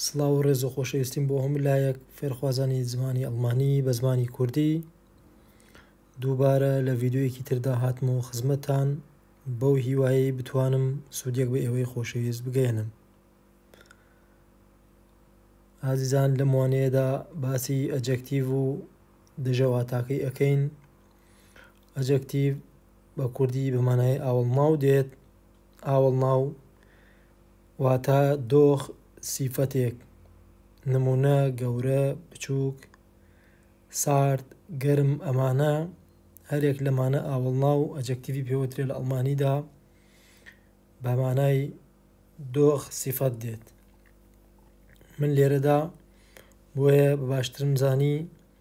سڵاو و ڕێز و خۆشەویستیم بۆ هەموو لایەک فێرخوازانی زمانی ئەڵمانی بە زمانی کوردی دووبارە لە ڤیدیۆیەکی تردا هاتم و خزمەتان بەو هیوایەی بتوانم سوودێک بە ئێوەی خۆشەویست بگەێنم ئازیزان لەم وانەیەدا باسی ئەجەکتیڤ و دژەواتاکەی ئەەکەین ئەجەکتیڤ بە کوردی بەمانای ئاوەڵناو دێت ئاوەڵناو، واتا دۆخ، سیفەتێک، نموونە، گەورە، بچووک، سارد، گەرم، ئەمانە هەرێک لەمانە ئاوەڵناو و ئەجەکتیڤی پێ وترێ لە ئەڵمانیدا بە مانای دۆخ، سیفەت، دێت. من لێرەدا بۆیە بە باشترم زانی.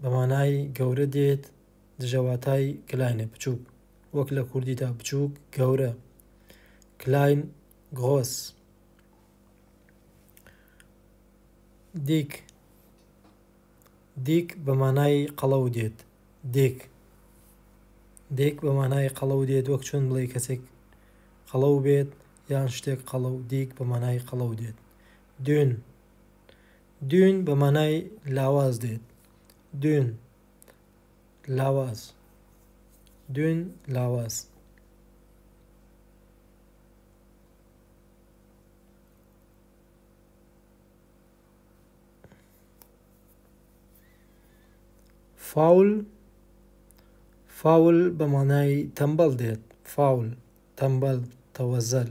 بە مانای گەورە دێت دژە واتای کلاینە، بچووک، وەک لە کوردیدا بچووک، گەورە، کلاین، گڕۆس. دیک، Dick، بە مانای قەڵەو دێت، دیک، Dick، بە مانای قەڵەو دێت وەک چۆن بڵێی کەسێک قەڵەو بێت یان شتێک قەڵەو، دیک، بە مانای قەڵەو دێت، دون. Dune بە مانای لاواز دێت Dune لاواز Dune لاواز. Foul فاول بە مانای تەمبەڵ دێت Foul تەمبەڵ تەوەزەل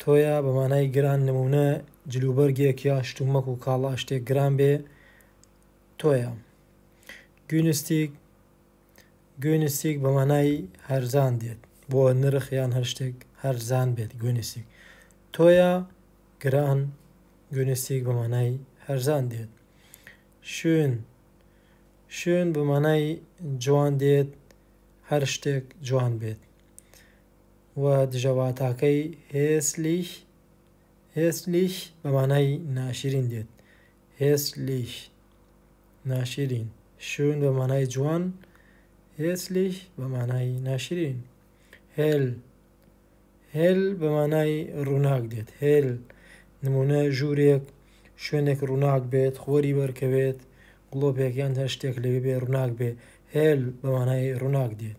تۆیە بە مانای گران نموونە جلوبەرگێک یا شتومەک و کاڵا شتێک گران بێ تۆیە گوینستیک گوینستیک بە مانای هەرزان دێت بۆ نرخ یان هەر شتێک هەرزان بێت گوینستیک تۆیە گران گوینستیک بە مانای هەرزان دێت شوێن شوێن بە مانای جوان دێت هەر شتێک جوان بێت و دژەواتاکەی هێسلیش، Hässlich، بە مانای ناشرین دێت، Hässlich، ناشرین، Schön، بە مانای جوان، Hässlich، بە مانای ناشرین، Hell، Hell، بە مانای ڕووناک دێت، Hell، نموونە، ژوورێک، شوێنێک ڕووناک بێت، خۆری بەرکەوێت، گڵۆپێک یان هەر شتێک لەوێ بێ ڕووناک بێ، Hell، بە مانای ڕووناک دێت.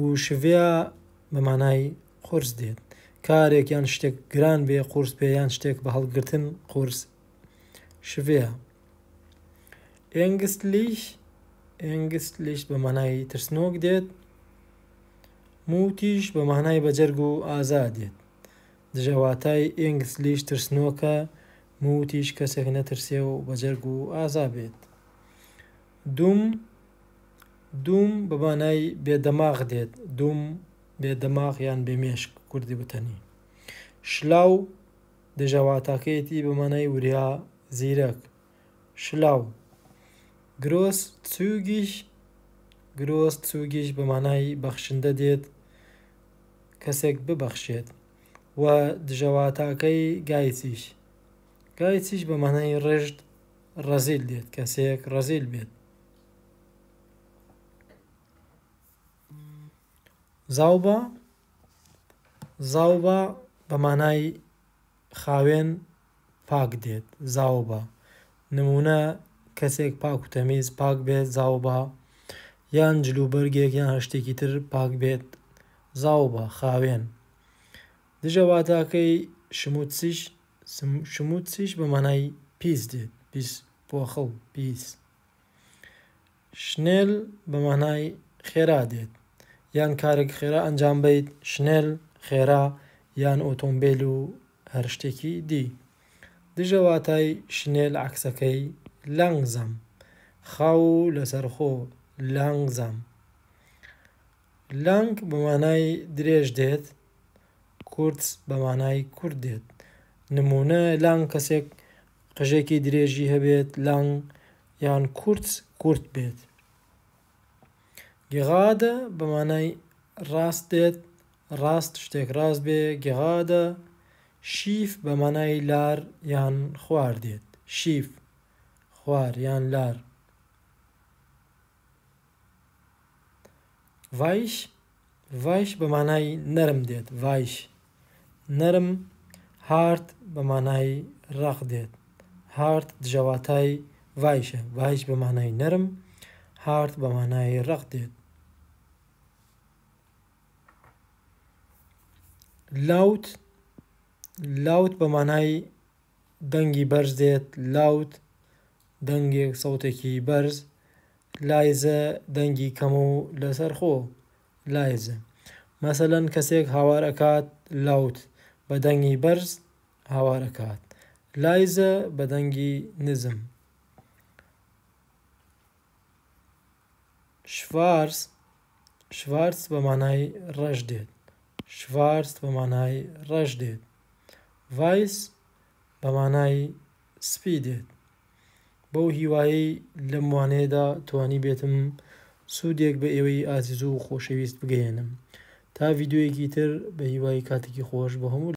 و شڤیا بە مانای قورس دێت. کارێک یان شتێک گران بێ قورس بێ یان شتێک بە هەڵگرتن قورس شڤیا. ئێنگستلیش ئێنگستلیش بە مانای ترسنۆک دێت موتیش بە مانای بەجەرگ و ئازا دێت دژەواتای ئێنگستلیش ترسنۆکە موتیش کەسێک نەترسێ و بەجەرگ و ئازا بێت دوم دووم بە مانای بێ دەماغ دێت، دوم بێ دەماغ یان بێ مێشک کوردی وتەنی. شلاو دەژە واتاکەیەتی بە مانای وریا زیرەک، Schlau. Großzügig Großzügig بە مانای بەخشندە دێت، کەسێک ببەخشێت. و دژە واتاکەی Geizig Geizig بە مانای ڕژد، ڕەزیل دێت، کەسێک ڕەزیل بێت. زاوبا زاوبا بە مانای خاوێن پاک دێت زاوبا نمونە کەسێک پاک و تەمیز پاک بێت زاوبا یان جلوبەرگێک یان هەر شتێکی تر پاک بێت زاوبا خاوێن دژە واتاکەی شموتسیش شموتسیش بە مانای پیس دێت پیس. پۆخڵ، پیس. شنێل بە مانای خێرا دێت، یان کارێک خێرا ئەنجام بەیت، شنێل، خێرا، یان ئۆتۆمبێل و هەر شتێکی دی. دژە واتای شنێل عەکسەکەی، لانگزام، خاو و لەسەرخۆ، Langsam. لانگ بە مانای درێژ دێت، کورتس بە مانای کورت دێت. نموونە، لانگ کەسێک قژێکی درێژی هەبێت، لانگ یان کورتس کورت بێت. گێغادە بە مانای ڕاست دێت، ڕاست شتێک ڕاست بێ گێغادە. شیف بە مانای لار یان خوار دێت، شیف خوار یان لار. ڤایش Weish بە مانای نەرم دێت ڤایش نەرم هارد بە مانای ڕەق دێت هارد دژە واتای ڤایشە ڤایش بە مانای نەرم هارد بە مانای ڕەق دێت لاوت Loud بە مانای دەنگی بەرز دێت لاوت دەنگێ و سەوتێکی بەرز لایزە دەنگی کەم و لەسەر خۆ لایزە مەسەلەن کەسێک هاوار ئەکات لاوت بە دەنگی بەرز هاوار ئەکات لایزە بە دەنگی نزم شڤارس شڤارس بە مانای ڕەش دێت شڤارس بە مانای ڕەش دێت ڤایس بە مانای سپی دێت. بەو هیوایەی لەم وانەیەدا توانیبێتم سوودێک بە ئێوەی ئازیزو خۆشەویست بگەیەنم. تا ڤیدیۆیەکی تر بەهیوای کاتێکی خۆش بۆ هەموو.